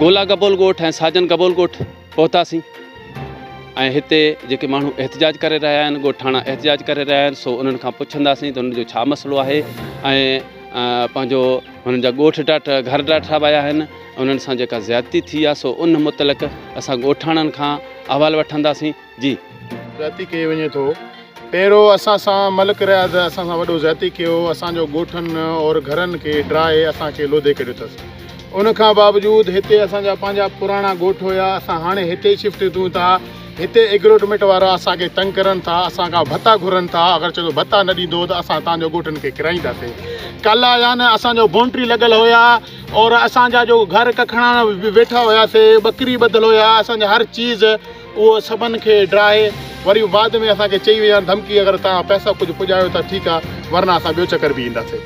گولا گبول ڳوٺ ۽ ساجن گبول ڳوٺ پهتاسين ۽ هتي جيڪي ماڻهو احتجاج ڪري رهيا آهن ڳوٺاڻا احتجاج ڪري رهيا آهن سو انهن کان پڇنداسين ته انهن جو ڇا مسئلو آهي ۽ پنهنجو هنن جا ڳوٺ ڊاٽ گهر ڊاٺا ويا آهن انهن سان جيڪا زيادتي ٿي آهي سو ان متعلق اسان ڳوٺاڻن کان احوال وٺنداسين جي. زيادتي ڪئي وڃي ٿو پهرو اسان سان ملڪ رياض اسان سان وڏو زيادتي ڪيو اسان جو ڳوٺن اور گهرن کي ڊراهي اسان کي لوڌي ڪڍيو اٿس ان کان باوجود هتي اسان جا پنهنجا پراڻا ڳوٺ هيا اسان هاڻي هتي شفٽ ٿيون ٿا هتي ايگروٽميٽ وارا اسان کي تنگ ڪرن ٿا اسان کان ڀتا گهرن ٿا اگر چوندو ڀتا نه ڏيندو ته اسان تان جو ڳوٺن کي ڪرائينداسي ڪل آيا نه اسان جو بونٽري لڳل هيا اور اسان جا جو گهر ڪکڻا ويٺا هياسي ٻڪري ٻڌل هيا اسان جا هر چيز اهو سڀن کي ڊاهي وري بعد ۾ اسان کي چئي ويو يا ڌمڪي اگر توهان پئسا ڪجهه پڄايو ته ٺيڪ آ ورنه اسان ٻيو چڪر به ايندا سي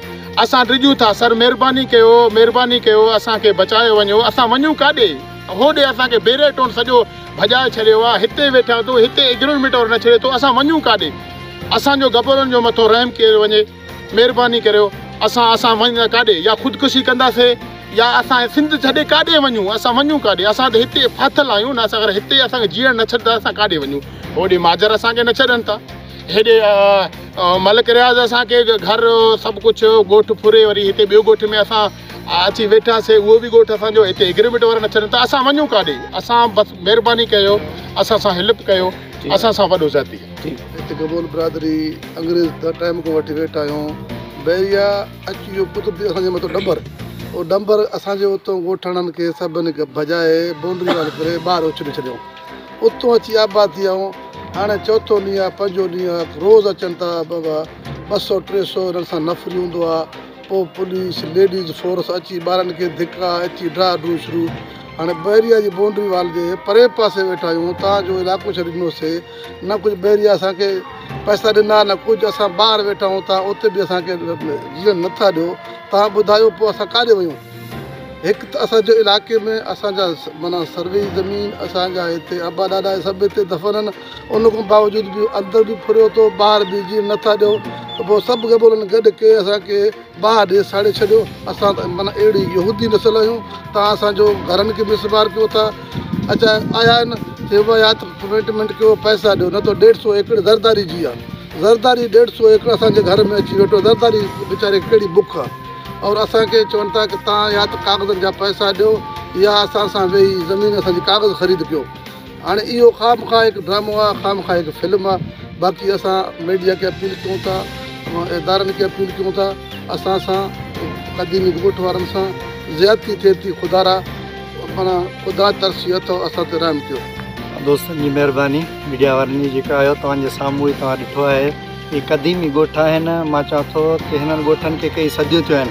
اسان ڊڄون ٿا سر مهرباني ڪيو مهرباني ڪيو اسان کي بچايو وڃو اسان وڃون ڪاڏي هوڏي اسان کي بيري ٽون سڄو ڀڄائي ڇڏيو آ هتي ويٺا ٿو هتي اگنورميٽ ور نه ڇڏي ٿو اسان وڃون ڪاڏي اسان جو گبرن جو مٿو رحم ڪيو وڃي. مھرباني ڪريو اسان اسان وڃڻ ڪاڏي يا خودڪشي ڪنداسي يا اسان سنڌ ڇڏي ڪاڏي وڃون اسان وڃون ڪاڏي اسان ته ھتي ڦاٿل آھيون نه اسان اگر ھتي اسان کي جيئڻ نه ڇڏندا اسان ڪاڏي وڃون ھوڏي ماجر اسان کي نه ڇڏن ٿا ھيڏي ملڪ رياض اسان کي گھر سڀ ڪجھ ڳوٺ ڦري وري ھتي ٻيو ڳوٺ ۾ اسان اچي ويٺاسي اھو به ڳوٺ اسان جو ھتي اگريمينٽ وارا نه ڇڏن ٿا اسان وڃون ڪاڏي اسان بس مھرباني ڪيو اسان سان ھيلپ ڪيو اسان سان وڏو ذاتي ٿي. هت گبول برادري انگريز ته ٽائيم کان وٺي ويٺا آهيون. بحريا اچ اهو قدرتي اسان جي مٿو ڏنڀر او ڏنڀر اسان جي اتون ڳوٺاڻن کي سڀني کي ڀڄائي بونڊري وال ڪري ٻاهر اڇلي ڇڏيائون. اتون اچي آباد ٿي آهيون. هاڻي چوٿون ڏينهن آهي پنجون ڏينهن آهي روز اچن ٿا ٻه ٻه سئو ٽي سئو انهن سان نفري هوندو آهي پوء پوليس، ليڊيز فورس اچي ٻارن کي ڌڪا اچي ڊرا ڊرون شروع. هاڻي بحريه جي بائونڊري وال جي پرئين پاسي ويٺا آهيون اتان جو علائقو ڇڏي ڏنو سي نه ڪجهه بحريه اسان کي پئسا ڏنا نه ڪجهه اسان ٻاهر ويٺا آهيون تان اتي به اسان کي جيئن نه ٿا ڏيو تان ٻڌايو پوء اسان ڪاڏي ويون هڪ ته اسان جي علائقي ۾ اسان جا معنيٰ سروي زمين اسان جا هتي ابا ڏاڏا سڀ هتي دفن آهن. ان کان باوجود به اندر به ڦريو ٿو ٻاهر به جيئن نه ٿا ڏيو ته پوء سڀ قبيلن گڏ ڪي اسان کي باهه ڏئي ساڙي ڇڏيو اسان ته معنيٰ اهڙي يهودي نسل آهيون توهان اسان جو گهرن کي مسمار ڪيو ٿا اچا آيا آهن تي به يا ته پيميٽمينٽ ڪيو پئسا ڏيو نه ته ڏيڍ سو ايڪڙ زرداري جي آهي زرداري ڏيڍ سو ايڪڙ اسان جي گهر ۾ اچي ويٺو زرداري ويچاري کي ڪهڙي بک آهي اور اسان کي چون ٿا ته توهان يا ته ڪاغذن جا پئسا ڏيو يا اسان سان ويهي زمين اسان جي ڪاغذ خريد ڪيو هاڻي اهو خامخواه هڪ ڊرامو آهي خامخواه هڪ فلم آهي باقي اسان ميڊيا کي اپيل ڪيون ٿا ادارن کي اپيل ڪيون ٿا اسان سان قديمي ڳوٺ وارن سان زيادتي ٿئي ٿي خدا را پاڻ خدا ترسي اٿو اسان تي رحم ڪيو دوستن جي مهرباني ميڊيا وارن جي جيڪا آيو توهان جي سامهون ئي توهان ڏٺو آهي هي قديمي ڳوٺ آهن مان چوان ٿو ته هنن ڳوٺن کي ڪئي صديون ٿيون آهن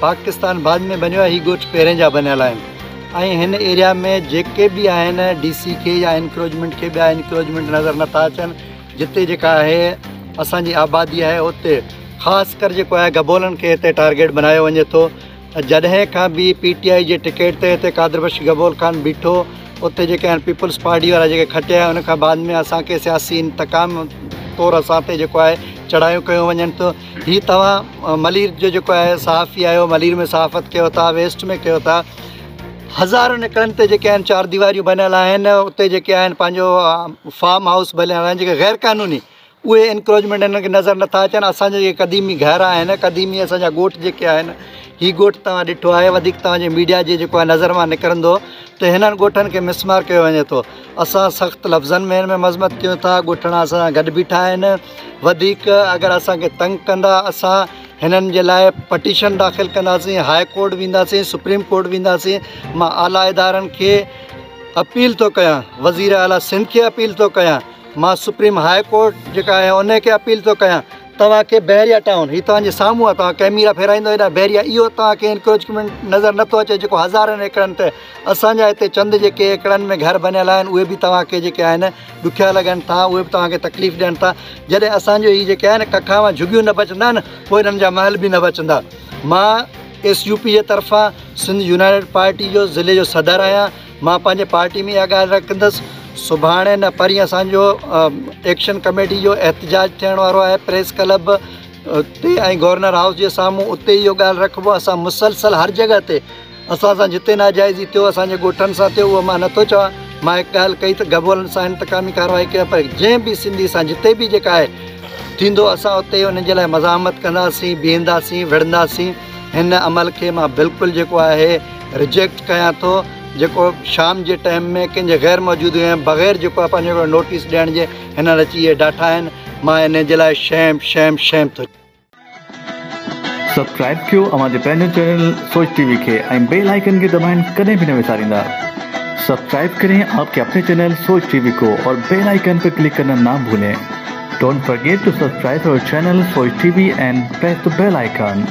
پاڪستان بعد ۾ بنيو آهي هي ڳوٺ پهرين جا بنيل آهن ۽ هن ايريا ۾ جيڪي به آهن ڊي سي کي يا انڪروچمينٽ کي ٻيا انڪروچمينٽ نظر نٿا اچن جتي جيڪا آهي اسان جي آبادي آهي اتي خاص ڪر جيڪو آهي گبولن کي هتي ٽارگيٽ بنايو وڃي ٿو جڏهن کان به پي ٽي آئي جي ٽڪيٽ تي هتي قادر بخش گبول خان بيٺو اتي جيڪي آهن پيپلز پارٽي وارا جيڪي کٽيا آهن ان کان بعد ۾ اسانکي سياسي انتقام طور اسان تي جيڪو آهي چڙهايون ڪيون وڃن ٿيون هي توهان ملير جو جيڪو آهي صحافي آهيو ملير ۾ صحافت ڪيو ٿا ويسٽ ۾ ڪيو ٿا هزارن ايڪڙن تي جيڪي آهن چار ديواريون بنيل آهن اتي جيڪي آهن پنهنجو فام هائوس بنيل آهن جيڪي غير قانوني اهي انڪروچمينٽ هنن کي نظر نٿا اچن اسانجا جيڪي قديمي گهر آهن قديمي اسانجا ڳوٺ جيڪي آهن هي ڳوٺ توهان ڏٺو آهي وڌيڪ توهان جي ميڊيا جي جيڪو آهي نظر مان نڪرندو ته هنن ڳوٺن کي مسمار ڪيو وڃي ٿو اسان سخت لفظن ۾ هن ۾ مذمت ڪيون ٿا ڳوٺاڻا اسان سان گڏ بيٺا آهن وڌيڪ اگر اسانکي تنگ ڪندا اسان هنن جي لاء پٽيشن داخل ڪنداسين هاء ڪورٽ وينداسين سپريم ڪورٽ وينداسين ما اعليٰ ادارن کي اپيل ٿو ڪيان وزير اعليٰ سنڌ کي اپيل ٿو ڪيان ما سپريم هاء ڪورٽ جيڪا آهي ان کي اپيل ٿو ڪيان توهانکي بحريا ٽائون هي توهانجي سامهون آهي توهان ڪيميرا ڦيرائيندو هيڏانهن بحريا اهو توهانکي انڪروچمينٽ نظر نٿو اچي جيڪو هزارن ايڪڙن تي اسان جا هتي چند جيڪي ايڪڙن ۾ گهر بنيل آهن اهي به توهان کي جيڪي آهن ڏکيا لڳن ٿا اهي به توهان کي تڪليف ڏين ٿا جڏهن اسانجو هي جيڪي آهن ڪکاوا جهڳيون نه بچندا نه پوء هنن جا محل به نه بچندا مان ايس يو پي جي طرفان سنڌ يونائيٽيڊ پارٽي جو ضلعي جو صدر آهيان مان پنهنجي پارٽي ۾ اها ڳالهه رکندس سڀاڻي نه پرين اسانجو ايڪشن ڪميٽي جو احتجاج ٿيڻ وارو آهي پريس ڪلب تي ۽ گورنر هائوس جي سامهون اتي اهو ڳالهه رکبو اسان مسلسل هر جڳهه تي اسان سان جتي ناجائزي ٿيو اسان جي ڳوٺن سان ٿيو اهو مان نه ٿو چوان مان هڪ ڳالهه ڪئي ته گهرولن سان انتقامي ڪارروائي ڪيو پر جنهن به سنڌي سان جتي به جيڪا آهي ٿيندو اسان اتي ان جي لاء مزاحمت ڪنداسين بيهنداسين وڙهنداسين هن عمل کي مان بلڪل جيڪو آهي رجيڪٽ ڪيان ٿو جيڪو شام جي ٽائيم ۾ ڪنهن جي غير موجود هئي بغير جيڪو آهي پنهنجو نوٽيس ڏيڻ جي هنن اچي اهي ڊاٺا آهن مان ان جي لاء شيم شيم شيم ٿو سبسڪرائب ڪيو اوهان جي پنهنجي چينل سوچ ٽي وي کي ۽ بيل آئيڪن کي دٻائڻ ڪڏهن به نه وساريندا سبسڪرائب ڪرين آپ ڪي اپني چينل سوچ ٽي وي ڪو اور بيل آئيڪن پي ڪلڪ ڪرنا نا ڀولين ڊونٽ فرگيٽ ٽو سبسڪرائب اور channel Soch T V and press ته بيل آئيڪن.